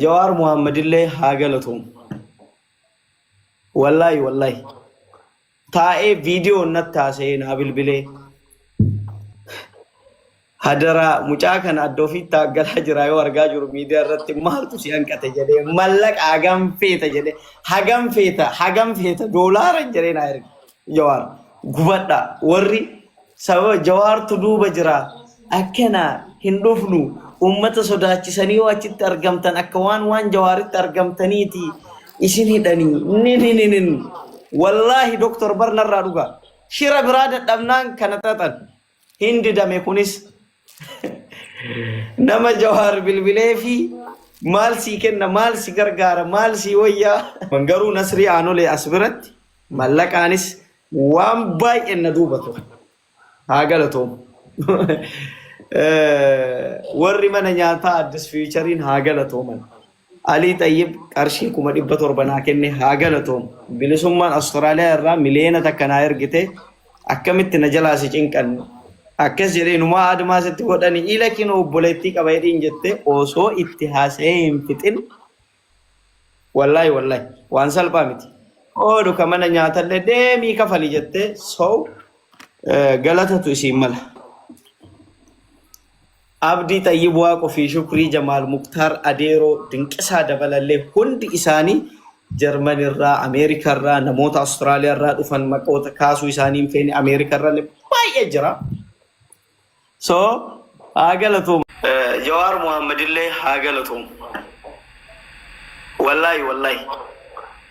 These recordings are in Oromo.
Jawaar Muhammadillee haa galatoomu. Wallaahi wallaahi. Taa'ee viidiyoo natti haasa'ee naa bilbilee. Hadaraa mucaa kana adda ofiitti taaggalaa jira yoo argaa jiru miidiyaa irratti maaltu si hanqate jedhee mallaqa hagam feeta jedhee hagam feeta hagam feeta doolaara jedhee naa erge. Jawaar gubadha warri sababa jawaartu duuba jira akkana hin dhufnu uummata sodaachisanii yoo achitti argamtan akka waan waan jawaaritti argamtaniiti isin hidhanii ni ni ni ni wallaahi doktor barnarraa dhugaa shira biraa dadhabnaan kana xaxan hin didame kunis nama jawaar bilbilee fi maal sii kenna maal si gargaara maal sii wayyaa garuu nasrii aanolee as biratti mallaqaanis waan baay'een na duuba ture haa galatoomu Eh, warri mana nyaataa addis fiichariin haa galatooman Alii Xayyib qarshii kuma dhibba torba naa kenne haa galatoomu. Bilisummaan Australia irraa miliyoona takka naa ergite akkamitti na jalaa si cinqan? Akkas jedhe inumaa admaa sitti godhani ila kinoo obboleettii qaba jedhiin jette osoo itti haasa'ee hin fixin wallahi wallahi waan salphaa miti. Oolu ka mana nyaatallee deemii kafali jette so galatatu isiin mala. Abdii Xayyib Waaqoo fi Shukrii Jamaal Muktaar Adeeroo Dinqisaa Dabalallee hundi isaanii Jarman irraa, Ameerika irraa, namoota Australia irraa dhufan maqoota kaasuu isaanii hin feene Ameerika irrallee baay'ee jira. So haa galatoomu. Eh, Jawaar Muhammad illee haa galatoomu. Wallaahi wallaahi.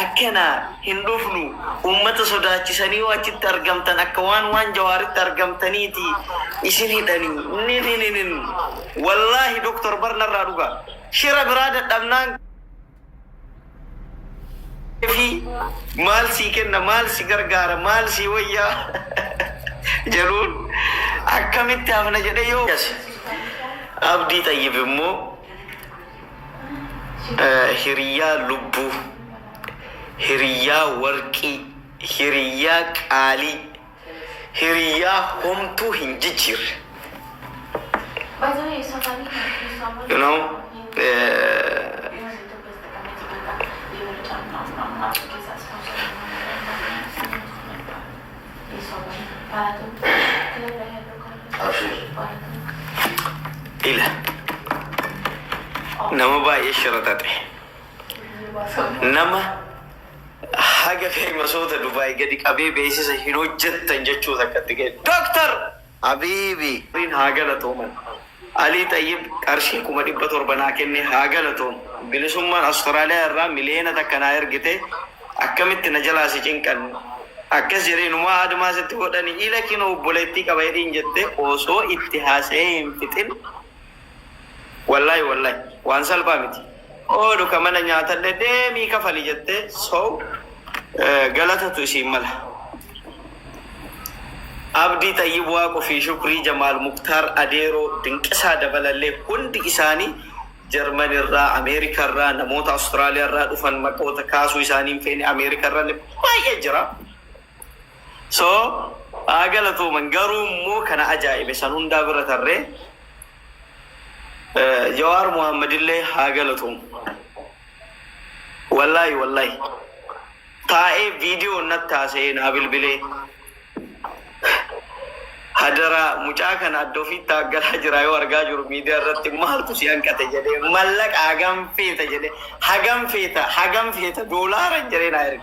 Akkanaa hin dhufnu ummata sodaachisanii yoo achitti argamtan akka waan waan jawaaritti argamtaniiti isin hidhani ninininin wallaahi Doktar bar narraa dhugaa shira biraa dadhabnaan fi maal sii kenna maal si gargaara maal sii wayyaa jedhuun akkamitti hafna jedhee yoo Abdii Xayyib immoo hiriyyaa lubbuu, hiriyyaa warqii, hiriyyaa qaalii, hiriyyaa homtuu hin jijjiirre. You know, eh, Abshir. Ila. Nama baay'ee shira tate. Nama haga feemasoota Dubaay gadi qabee beeksisa hin hojjettan jechuu takkatti ga'e. Dooktar! habiibi. Rabbiin haa galatooman Alii Xayyib qarshii kuma dhibba torba naa kenne haa galatoomu Bilisummaan Australia irraa miliyoona takka naa ergite akkamitti na jalaa si cinqan akkas jedhe inumaa admaa sitti godhani ila kinoo obboleettii qaba hidhiin jette osoo itti haasayee hin fixin Wallahi wallahi waan salphaa miti. Oolu ka mana nyaatalle deemii kafali jette so galatatu isiin mala. Abdii xayyib waaqo fi shukrii jamaal muktaar adeeroo dinqisaa dabalalle hundi isaani German irraa America irraa namoota Australia irraa dhufan maqoota kaasuu isaani hin feene America irralle baay'ee jira. So haa galatooman garuu immoo ka na ajaa'ibe san hundaa bira tarree Jawaar Muhammad illee haa galatoomu. Wallaahi wallaahi taa'ee viidiyoo natti haasa'ee naa bilbilee hadaraa mucaa kana adda ofiitti haaggalaa jira yoo argaa jiru miidiyaa irratti maaltu si hanqate jedhee mallaqa hagam feeta jedhee hagam feeta hagam feeta doolaara jedhee naa erge.